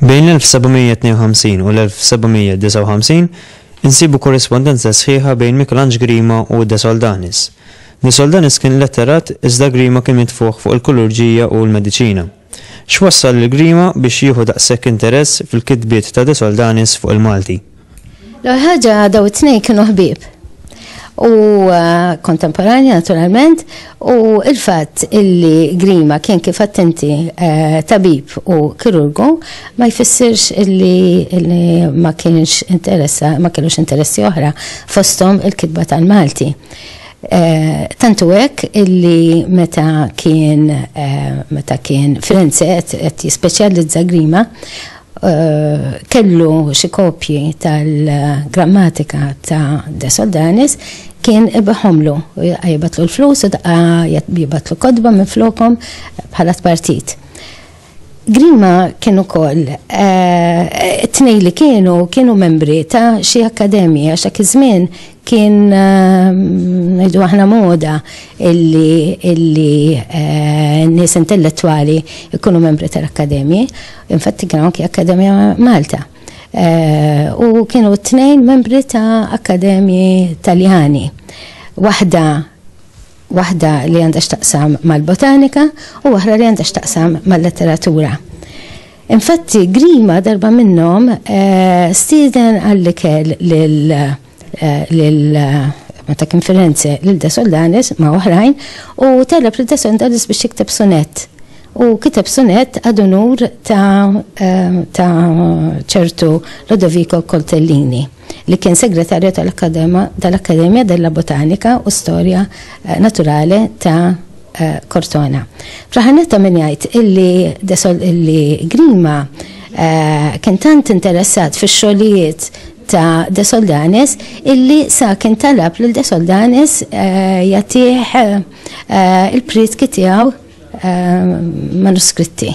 Bejn 1752 u l-1759 insibu korrispondenza sħiħa bejn Mikelanġ Grima u De Soldanis. De Soldanis kien letterat iżda Grima kien mitfuħ fuq il-kulurġija u l-mediċina. X'wassal lil Grima biex jieħu daqshekk interess fil-kitbiet ta' De Soldanis fuq il-Malti? L-ewwel ħaġa dawn it-tnejn kienu ħbieb u kontemporanji naturalment u l-fatt illi Grima kien kif għedt inti tabib u kirurgu ma jfissirx illi ma kienx interessa ma kellux interessi oħra fosthom il-kitba tal-Malti. Tantu hekk illi meta kien meta kien Firenze qed jispeċjalizza Grima kellu xi kopji tal-grammatika ta' De Soldanis kien ibihomlu u jibgħatlu l-flus u daqqa jibgħatlu kotba minn flokhom bħala tpartit. Grima kien ukoll tnej li kienu kienu membri ta' xi akkademji għax dak iż-żmien kien ngħidu aħna moda illi illi nies intellettwali jkunu membri tal-akkademji. Infatti kien anki Akkademja Malta. U kienu t-tnejn membri ta' akkademji Taljani. Waħda waħda li għandha x'taqsam mal-botanika u waħda li għandha x'taqsam mal-letteratura. Infatti, Grima darba minnhom eh, stieden għall-ikel lil eh, meta kien Firenze lil Desoldanis ma' oħrajn u talab lil Desoldanis biex jikteb sonett. U kiteb sonett għad unur ta' eh, ċertu Lodovico Coltellini. li kien Segretarju tal-Accademia della Botanica u Storia Naturale ta' Cortona. Fl-aħħar nett ta' min jgħid illi illi Grima kien tant interessat fix-xogħlijiet ta' De Soldanis illi sa kien talab lil De Soldanis jagħtih il-prietki tiegħu manuskritti.